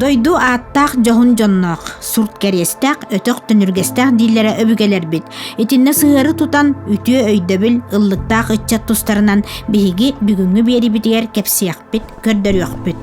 Дойду ааттаах дьоһун дьонноох, сурт кэриэстээх, өтөх төнүргэстээх дииллэрэ өбүгэлэрбит. Итиннэ сыһыары тутан, үтүө өйдөбүл, ыллыктаах ыччат тустарынан биһиги бүгүҥҥү биэрибитигэр кэпсиэх көрдөрүөхпүт, көрдөрүөхпүт.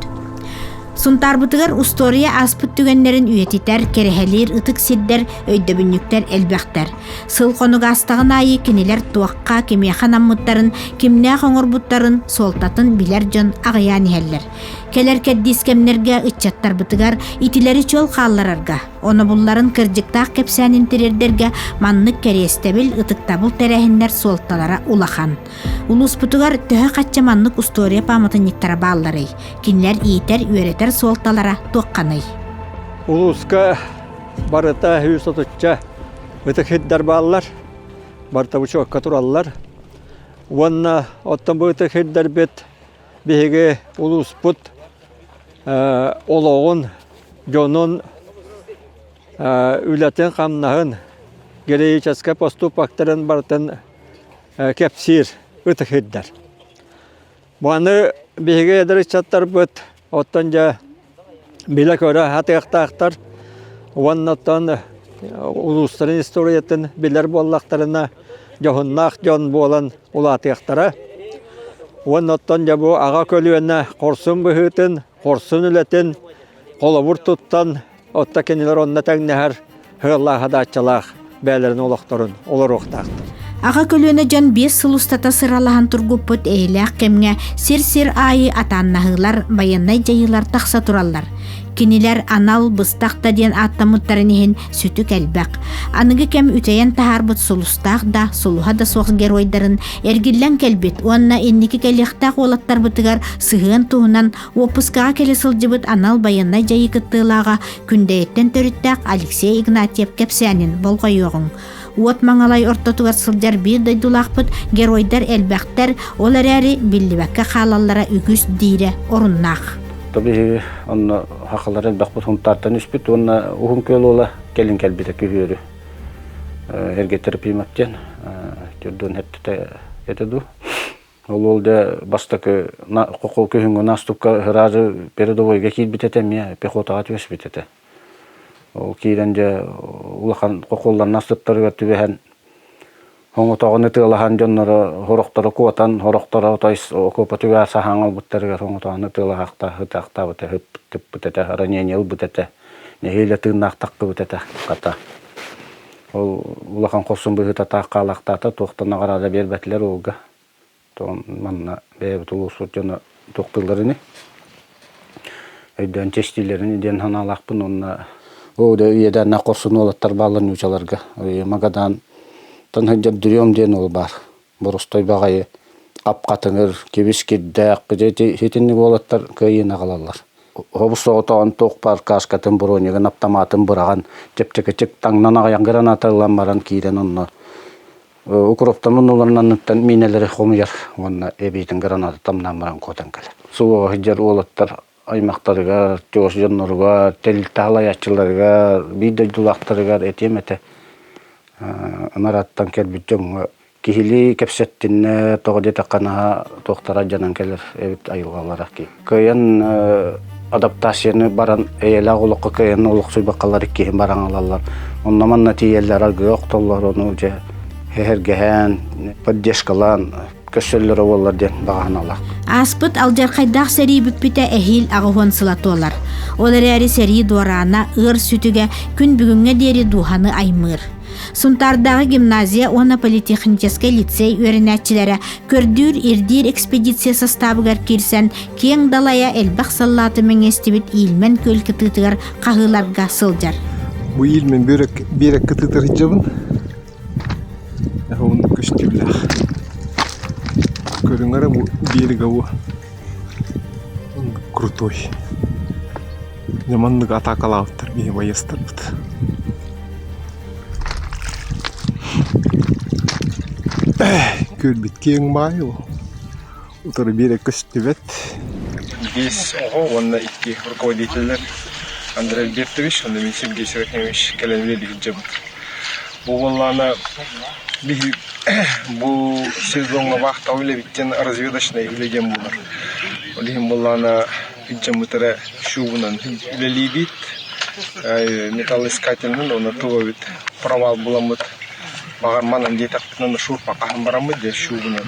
Сунтаарбытыгар устуоруйа ааспыт түгэннэрин үйэтитэр, кэрэһэлиир ытык сирдэр, өйдөбүнньүктэр элбэхтэр. Сыл хонуга астаҕын аайы кинилэр туохха, кимиэхэ наммыттарын, кимнээх оҥорбуттарын суолтатын билэр дьон аҕыйаан иһэллэр. Кэлэр кэрдиис кэмнэргэ ыччаттарбытыгар итилэри чөл хаалларарга, онобулларын кырдьыктаах кэпсээнин тириэрдэргэ маннык кэриэстэбил, ытыктабыл тэрээһиннэр суолталара улахан. Улууспутугар төһө хачча маннык устуоруйа пааматынньыктара баалларый? Кинилэр иитэр, үөрэтэр суолталара туохханый? Улууска барыта үс отучча ытык хирдар бааллар, барыта бучуокка тураллар. Уонна оттон бу ытык хирдарбыт биһиги улууспут олоҕун, дьонун үлэтин-хамнаһын, героическай поступоктарын барытын кэпсиир, ытык ирдэр. Баны биһиги эдэр ыччаттарбыт оттон дьэ билэ-көрө атыахтаахтар уонна оттон улуустарын историятын билэр буоллахтарына дьоһуннаах дьон буолан улаатыахтара. Уонна оттон дьэ бу аҕа көлүөнэ хорсун быһыытын, хорсун үлэтин холобур туттан Отто кинилэр онно тэҥнэһэр сыаллаах-хадааччалаах бэйэлэрин олохторун олоруохтаахтар. Аҕа көлүөнэ дьон биэс сыл устата сыралаһан тургуппут эһэлээх кэмҥэ сир-сир аайы атааннаһыылар, байыаннай дьайыылар тахса тураллар. Кинилэр анал быстах да диэн ааттаммыттарын иһин сүтүк элбэх. Аныгы кэм үтэйэн таһаарбыт сулустаах да, сулуһа да суох геройдарын эргиллэн кэлбит уонна инники кэлиэхтээх уолаттарбытыгар сыһыан туһунан Уоппускаҕа кэлэ сылдьыбыт анал байыаннай дьайыы кыттыылааҕа Күндэйиттэн төрүттээх Алексей Игнатьев кэпсээнин болҕойуоҕуҥ. Уот Маҥалай ортотугар сылдьар биир дойдулаахпыт геройдар элбэхтэр, ол эрээри биллибэккэ хаалаллара үгүс диирэ оруннаах. То биһиги онно хахалар элбэхпит Хунтаартан үспүт уонна Уһун Күөл уола кэлин кэлбитэ күһүөрү эргэтэр примак диэн төрдүн эттэ этэ дуу Ол ол дэ бастакы хохол күһүҥҥү наастыкка ыраазы передовойга киирбит этэ, эмиэ пехотаҕа түөспүт этэ. Ол киирэн дьэ улахан хохоллор наастыттарыгар түбэһэн хоҥотоҕун ытыалаһан дьонноро сорохторо куотан, сорохторо отой окуопатыгар саһааҥ ылбыттарыгар хоҥотоҕун ытыалаһаахта ытаахтаабыта, ытыппыт этэ, ранение ылбыт этэ, нэһиилэ тыыннаахтаххыбыт этэ, хата. Ол улахан хорсун быһыытатаах хаалахтаата, туохта наҕараада биэрбэтилэр ууга. Манна бэйэбит улуусбут дьоно туохтууллар ини? Өйдөөн чэстиилэрин диэн санаалаахпын уонна бу да үйэдээннээх хорсун уолаттар бааллар нуучаларга. Магадаантан сылдьар Дриом диэн уол баар. бурустой баҕайы апкатыҥыр, кибис-кирдээх, итинник уолаттар кыайыыны аҕалаллар. Хобус соҕотоҕун туох паркашкатын, бронигын, аптамаатын быраҕан, чэпчэкичик таҥнан аҕыйах граната ылан баран киирэн онно укроптомун ыларын анныттан миинэлэри хомуйар уонна эбиитин гранату тамнаан баран кутан кэлэр. Субуоһа сылдьар уолаттар аймахтарыгар, чугас дьонноругар, тэрилтэ салайааччыларыгар, биир дойдулаахтарыгар этиэм этэ, Анараттан кэлбит дьоҥҥо киһилии кэпсэттиннэ, тоҕо диэтэххэ наһаа туохтара дьанан кэлэр эбит айылҕалара. Кыайан адаптацияны баран эйэлээх олоххо кыайан олохсуйбакалар киһи баран ылаллар. Онно-манна тиийэллэр аргыа охтоллор, ону дьэ эһэргэһээн, поддержкалаан Көсөллөрө буоллар диэн баҕаһыналаах. Ааспыт алдьархайдаах сэрии бүппүтэ эһиил аҕыһуон сыла туолар. Ол эрээри сэрии дуораана ыар сүтүгэ күн бүгүҥҥэ диэри дууһаны аймыыр. Сунтаардааҕы гимназия уонна политехническай лицей үөрэнээччилэрэ көрдүүр-ирдиир экспедиция састаабыгар киирсэн киэҥ далайа элбэх саллааты мэҥэстибит Иильмэн күөл кытыытыгар хаһыыларга сылдьар. Бу Иильмэн биэрэг кытыытар Уһун көстүмнээх. Көрүҥэр бу биэргэ бу крутой. Дьэ маннык атаакалаабыттар биһи байыастарбыт. Көрбүт киэҥ баайы бу. Утары биэрэ көстүбэт. Биис оҕо уонна икки руководителлэр Андрей Альбертович уонна мин Сергей Серафимович кэлэн иһдьэбит. Бу буоллаана биһи бу сезоҥҥа вахтаҕа үлэбиттэн разведочнай үлэ диэн буолар. Ол иһин буоллаана илдьэммит эрэ шубунан үлэлиибит. металлоискательынан уонна тубабыт провал буламмыт. Баҕар манан диэтэхпинэ шурпа хаһан бараммыт диэн шубунан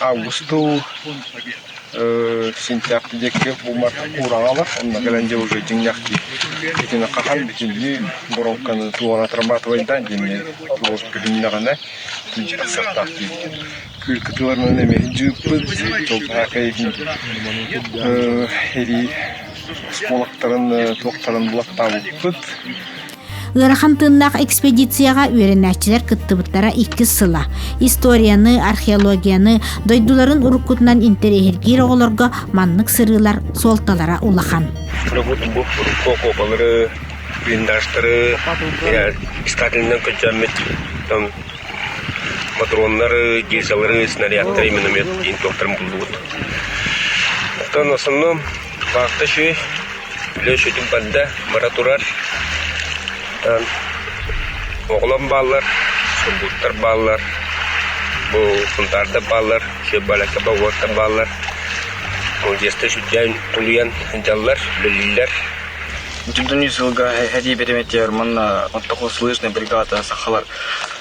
Август дуу, сентябрь диэки буумар уураҕа ылар, онно кэлэн дьэ уже дьиҥнээхтик итини хахан бүтүннүү боруоҥканы туора отрабатывайдаан диэни туос көһүннэҕинэ сыттаах диир. Кыыркытыларынан эмиэ дьыыппыт, тылбаакай иһин эрии оскуолактарын туохтарын булаттаабыппыт. Ыарахан тыннах экспедицияга үөрэнээччилэр кыттыбыттара иккис сыла. Историяны, археологияны, дойдуларын уруккутунан интэриэһиргиир оҕолорго маннык сырыылар суолталара улахан. блиндажтары, искательынан көчөммүт матроннары, дизелары, снарядтары, миномет доктор буллубут. Оттон основном Баахта үчүгэй, үлэ үчүгөтүн барда, бара турар. Оҕолорум бааллар, субуттар бааллар, бу сунтаардар бааллар, балааккаба уоттар бааллар. Одесса сүдьяйын тулуйан дьаллар, үлэлииллэр. Дьоннуу сылга хэтии бэримэтиэр манна оттоку слышная бригада сахалар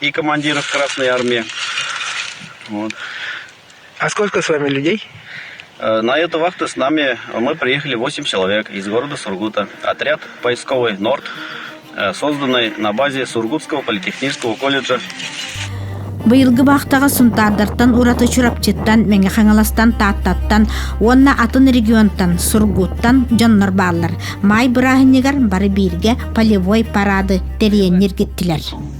и командиров Красной Армии. Вот. А сколько с вами людей? Э, на эту вахту с нами мы приехали 8 человек из города Сургута. Отряд поисковый «Норд», э, созданный на базе Сургутского политехнического колледжа Быйылгы бахтаға сунтаардартан ураты Чурапчыттан, Мэҥэ Хаҥаластан, Тааттаттан уонна атын регионтан, Сургуттан дьоннор бааллар. Май бырааһынньыгар бары бииргэ полевой парады тэрийэн ньиргиттилэр.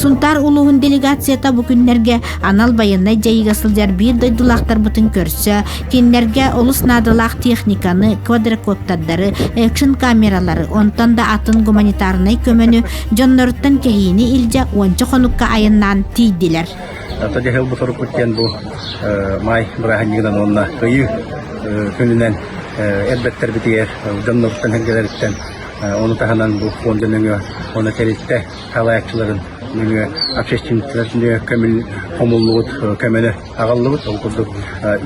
Сунтаар улууһун делегацията бу күннэргэ анал байыаннай дьайыыга сылдьар биир дойдулаахтарбытын көрсө, кинилэргэ олус наадалаах техниканы, квадрокодтардары, экшен камералары, онтон да атын гуманитарнай көмөнү, дьонноруттан кэһиини илдьэ уонча хонукка айаннаан тиийдилэр. Тагахыл бутарукут диэн бу май бырааһынньыгынан уонна кыйыы күнүнэн эрбэттербитигэр дьонноруттан Ону таһынан бу фонда нөҥүө уонна тэрилтэ салайааччыларын нөҥүө общественниктар нөҥүө көмүл хомуллубут көмөнө аҕаллыбыт. Ол курдук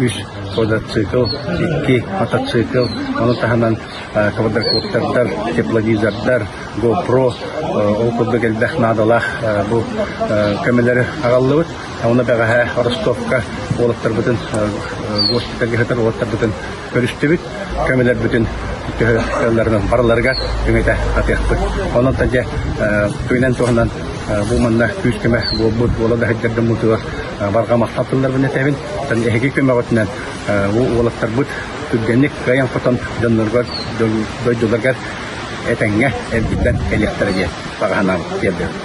үс квадроцикл, икки мотоцикл, ону таһынан квадрокоптердар, тепловизордар, GoPro, ол курдук элбэх наадалаах бу көмөлөрү аҕаллыбыт. Оны бэҕэһээ Ростовка уолаттарбытын госпитальга сытар уолаттарбытын көрүстүбүт. көмөлөрбүтүн төһө сыалларынан барыларыгар үҥэтэ атыахпыт. Онон дьэ туйунан туһунан бу манна күүс-көмө буолбут буола да сылдьаргын мутугар барҕа махтал тылларбын этэбин. Тан эһиги көмөҕүтүнэн бу уолаттарбыт түргэнник кыайан-хотон дьонноргор дойдуларгар этэҥҥэ эргиллэн кэлиэхтэрэ диэн баҕаһынаан тиэрдэбин.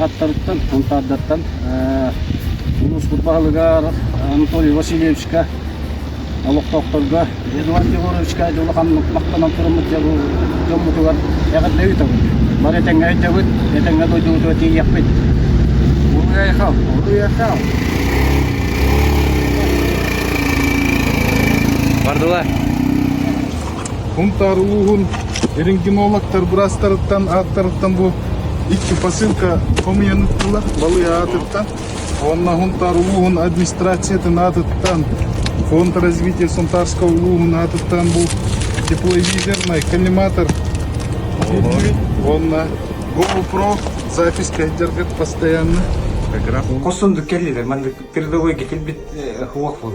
ааттарыттан, антаардартан улууспут баһылыгар Анатолий Васильевичка, олохтоохторго Эдуард Егоровичка улахан махтанан туруммут дьоммутугар эҕэрдэ ыытабыт. Бары этэҥҥэ өйдөбүт, этэҥҥэ дойдубутугар тиийиэхпит. Уйахал! Уйахал! Бардылар! Унтаар улууһун эрингенологтар быраастарыттан ааттарыттан бу икки посылка хомуйан ыттылар балыа аатыттан уонна Унтаар улууһун администрациятын аатыттан фондразвитие Сунтаарского улууһун аатыттан бу тепловизорный коллиматор уонна GoPro запись кайдергат постоянно Хосун кэллилэр маннык передовой китилбит хуах була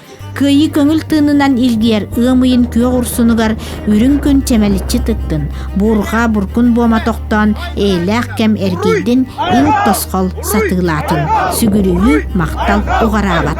Кыайыы көҥүл тыынынан илгийэр ыам ыйын күөх урсунугар үрүҥ күн чэмэличчи тыттын, буурҕа буркун буома тохтоон, эйэлээх кэм эргийдин, им тосхол сатыылаатын, сүгүрүйүү махтал уҕараабат.